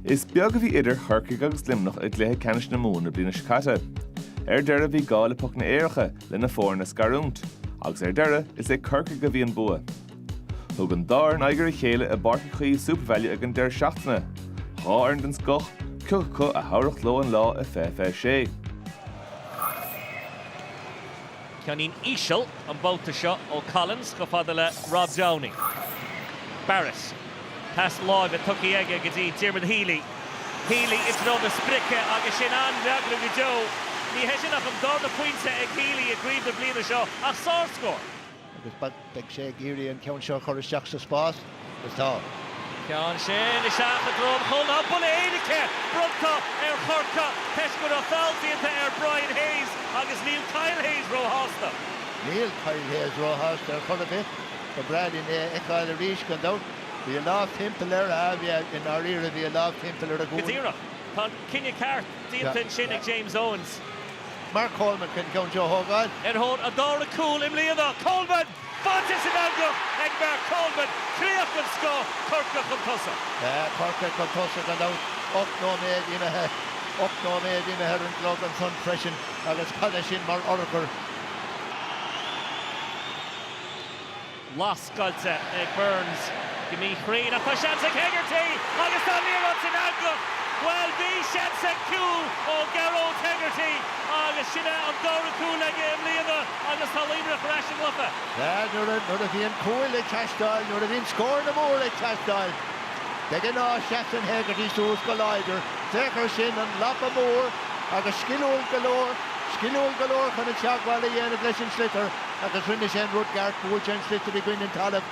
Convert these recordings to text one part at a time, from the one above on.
Is beag a bhí idir Chorcaigh agus Luimneach i gcluiche ceannais na Mumhan na bliana seo caite. Ar deireadh bhí gá le pocanna éirice le na foirne a scarúint, agus ar deireadh is ag Corcaigh a bhí an bua. Thug an dá fhoireann aghaidh ar a chéile i bPáirc Uí Chaoimh Supervalu ag an deireadh seachtaine, dhá fhoireann den scoth, cé acu a thabharfadh leo an lá i fiche fiche sé. Ceann íseal an babhta seo ó Collins chomh fada le Rob Downey. Barrett. Pas láimhe tugtha aige go dtí Diarmuid Healy. Healy i dtreo na sprice agus sin an-fhreagra go deo. Ní hé sin ach an darna pointe ag Healy i gcraobh na bliana seo ach sárscór. Agus Beidh sé ag iarraidh an ceann seo a chur isteach sa spás agus tá. Ceann sin isteach i dtreo an chúil, buille éirice bronnta ar Chorcaigh toisc go raibh feall déanta ar Brian Hayes agus níl Kyle Hayes róshásta. Níl Kyle Hayes róshásta ar chor ar bith. Ba bhreá linn é a fheiceáil arís gan dabht. Bhí a lámh timpeall air, ah yeah, i ndáiríre bhí a lámh timpeall ar a ghualainn. Go díreach. Tá an cinneadh ceart. Déanta ansin ag James Owens. Mark Coleman chun ceann seo a thógáil. Ar thóir a dara cúl i mbliana, Coleman! Fáilte san eangach ag Mark Coleman, críoch den scoth, Corcaigh chun tosaigh. Tá Corcaigh chun tosaigh gan dabht. Ocht nóiméad imithe. Ocht nóiméad imithe ar an gclog ansan freisin agus cad é sin mar urchar! Lascailte ag Byrnes go míchruinn ach tá seans ag Hegarty agus tá an liathróid san eangach. Bhuel, bhí seans ag cúl ó Gearóid Hegarty agus sin é an dara cúl aige i mbliana agus tá Luimneach ar ais sa gcluiche. Bhuel, nuair a bhíonn cúil ag teastáil, nuair a bhíonn scóranna móra ag teastáil, de ghnáth seasann Hegarty suas go láidir. Féach air sin, an lapa mór agus sciliúil go leor, sciliúil go leor chun an teagmháil a dhéanamh leis an sliotar. Agus rinne sé an rud ceart, bhuail sé an sliotar i gcoinne an talaimh.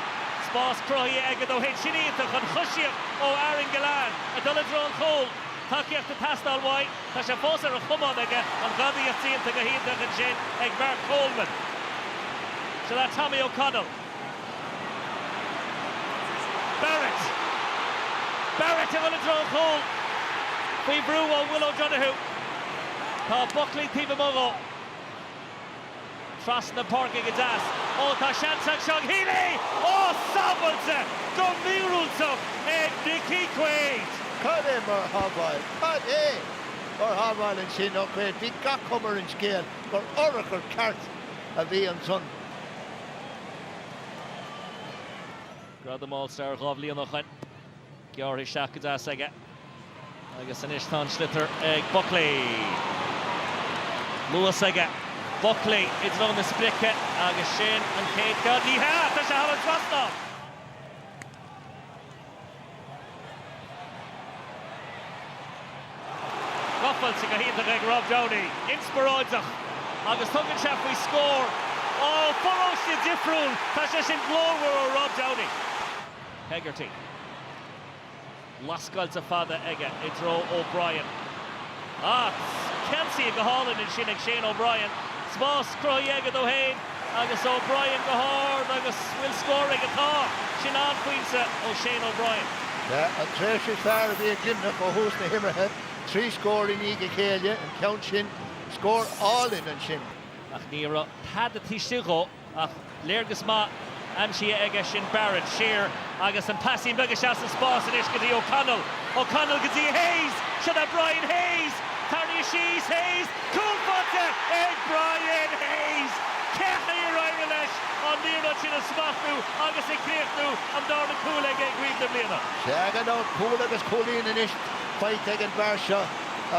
Spás cruthaithe aige dó fhéin, sin iontach an choisíocht ó Aaron Gillane ag dul i dtreo an chúil. Tacaíocht ag teastáil uaidh. Tá sé fós ar a chamán aige, an ghadaíocht déanta go hiontach ansin ag Mark Coleman. Sin é Tommy O'Connell. Barrett. Barrett ag dhul i dtreo an chúil. Faoi bhrú ó Will O'Donoghue. Tá Buckley taobh amuigh dhó. Trasna na páirce go deas. Ó tá seans anseo ag Healy! Ó sábháilte go míorúilteach ag Nickie Quaid! Cad é mar shábháil! Cad é mar shábháil ansin ó Quaid. Bhí gach cuma ar an scéal gur urchar ceart a bhí ansan. Gradam All Star dhá bhliain ó shin. Gearrtha isteach go deas aige agus anois tá an sliotar ag Buckley. Luas aige Buckley i dtreo na sprice agus sin an chéad cheann. Ní hea! Tá sé thar an trasnán! Gabháilte go hiontach ag Rob Downey. Inspioráideach agus tugann sé faoi scór ó pharóiste difriúil. Tá sé sin glórmhar ó Rob Downey. Hegarty. Lascáilte fada aige i dtreo O'Brien. Ach ceansaithe go hálainn ansin ag Shane O'Brien. Spás cruthaithe aige dó fhéin agus O'Brien go hard agus bhfuil scór aige? Tá! Sin an-phointe ó Shane O'Brien. Ba é an tréimhse is fearr a bhí ag Luimneach ó thús na himeartha, trí scór i ndiaidh a chéile, an ceann sin, scór álainn ansin. Ach ní raibh tada taobh istigh dhó. Ach léargas maith aimsithe aige sin Barrett. Siar agus an pasín beag isteach sa spás anois go dtí O'Connell. O'Connell go dtí Hayes. Siod é Brian Hayes! Tarraingthe síos Hayes. Cúl báite ag Brian Hayes! Cén chaoi ar éirigh leis an liathróid sin a smachtú agus a chríochnú? An darna cúl aige i gcraobh na bliana. Sea, gan dabht, cúl agus cúilín anois faighte ag an bhfear seo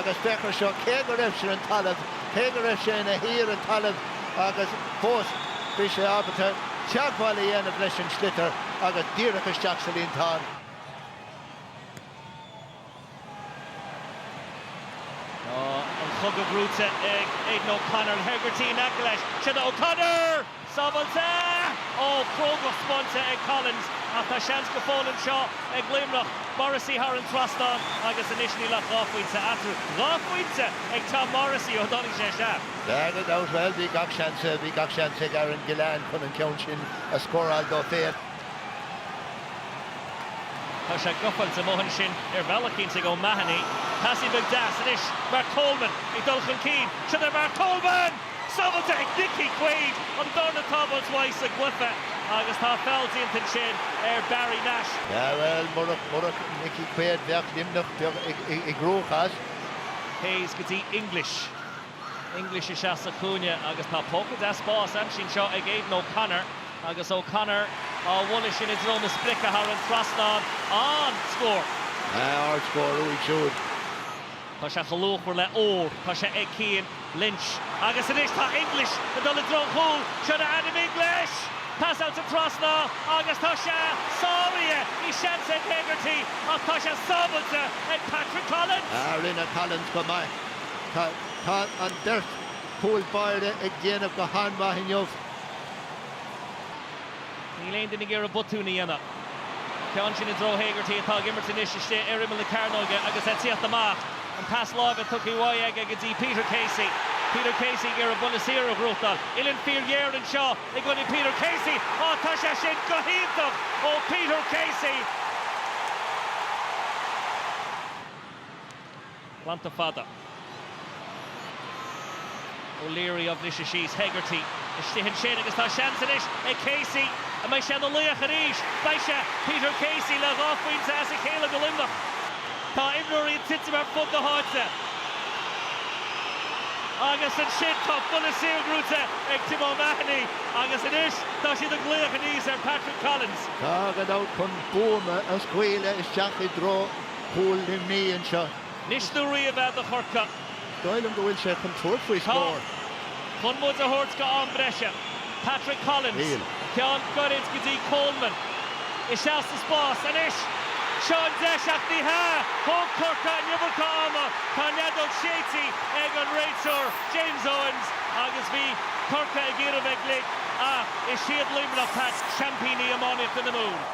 agus féach ar seo, cé go raibh sé ar an talamh, Cé go raibh sé ina shuí ar an talamh agus fós bhí sé ábalta teagmháil a dhéanamh leis an sliotar agus díreach isteach sa líontán. Tá an cogadh brúite ag Aidan O'Connor. Hegarty in aice leis. Siod é O'Connor! Sábháilte! Ó, crógacht spáinte ag Collins ach tá seans go fóill anseo ag Luimneach. Morrissey thar an trasnán agus anois níl ach dhá phointe eatarthu. Dhá phointe ag Tom Morrissey ó dtáinig sé isteach. Gan dabht, bhuel, bhí gach seans, bhí gach seans ag Aaron Gillane chun an ceann sin a scóráil dó féin. Tá sé gabháilte amuigh ansin ar bhealach éicint ag O'Mahony. Pasín beag deas anois, Mark Coleman ag dul chun cinn. Siod é Mark Coleman! Sábháilte ag Nicky Quaid, an darna sábháil uaidh sa gcluiche agus tá feall déanta ansin ar Barry Nash. Sea, bhuel, murach Nicky Quaid, bheadh Luimneach i gcruachás. Hayes go dtí English. English isteach sa chúinne agus tá póca deas spáis aimsithe anseo ag Aidan O'Connor agus O'Connor á bhualadh sin i dtreo na sprice thar an trasnán. An-scór! Ard-scór uaidh siúd. Tá sé chomh luachmhar le ór. Tá sé ag Cian Lynch. Agus anois tá English ag dul i dtreo an chúil. Siod é Adam English! Pasáilte trasna agus tá sé sáraithe. Bhí seans ag Hegarty ach tá sé sábháilte ag Patrick Collins! Rinne Collins go maith. Tá tá an beirt chúl báire ag déanamh go han-mhaith inniu. Níl aon duine ag iarraidh botúin a dhéanamh. Ceann sin i dtreo Hegarty atá ag imirt anois istigh ar imeall na cearnóige agus é ag tíocht amach. An pas láimhe tugtha uaidh aige go dtí Peter Casey. Peter Casey ag iarraidh buille saor a ghnóthachtáil. Uillinn fíorghéar anseo i gcoinne Peter Casey. Á, tá sé sin go hiontach ó Peter Casey! Glanta fada. O'Leary á bhriseadh síos. Hegarty istigh ansin agus tá seans anois ag Casey. An mbeidh sé ina laoch arís? Beidh sé! Peter Casey le dhá phointe as a chéile do Luimneach. Tá imreoirí ag titim ar fud na háite. Agus ansin tá buille saor gnóite ag Tim O'Mahony agus anois tá siad ag glaoch aníos ar Patrick Collins. Tá, gan dabht, chun buama a scaoileadh isteach i dtreo chúl Luimnigh anseo. Anois nó riamh é do Chorcaigh. dóigh liom go bhfuil sé chun tabhairt faoi scór. Tá. Chun muid a thabhairt go am breise. Patrick Collins. Níl. Ceann gairid go dtí Coleman. Isteach sa spás. Anois. Seo an deis ach ní hea! Thóg Corcaigh an iomarca ama. Tá an fheadóg séidte ag an réiteoir, James Owens, agus bhí Corcaigh ag iarraidh bheith glic ach is iad Luimneach, Pat, seaimpíní iománaíochta na Mumhan.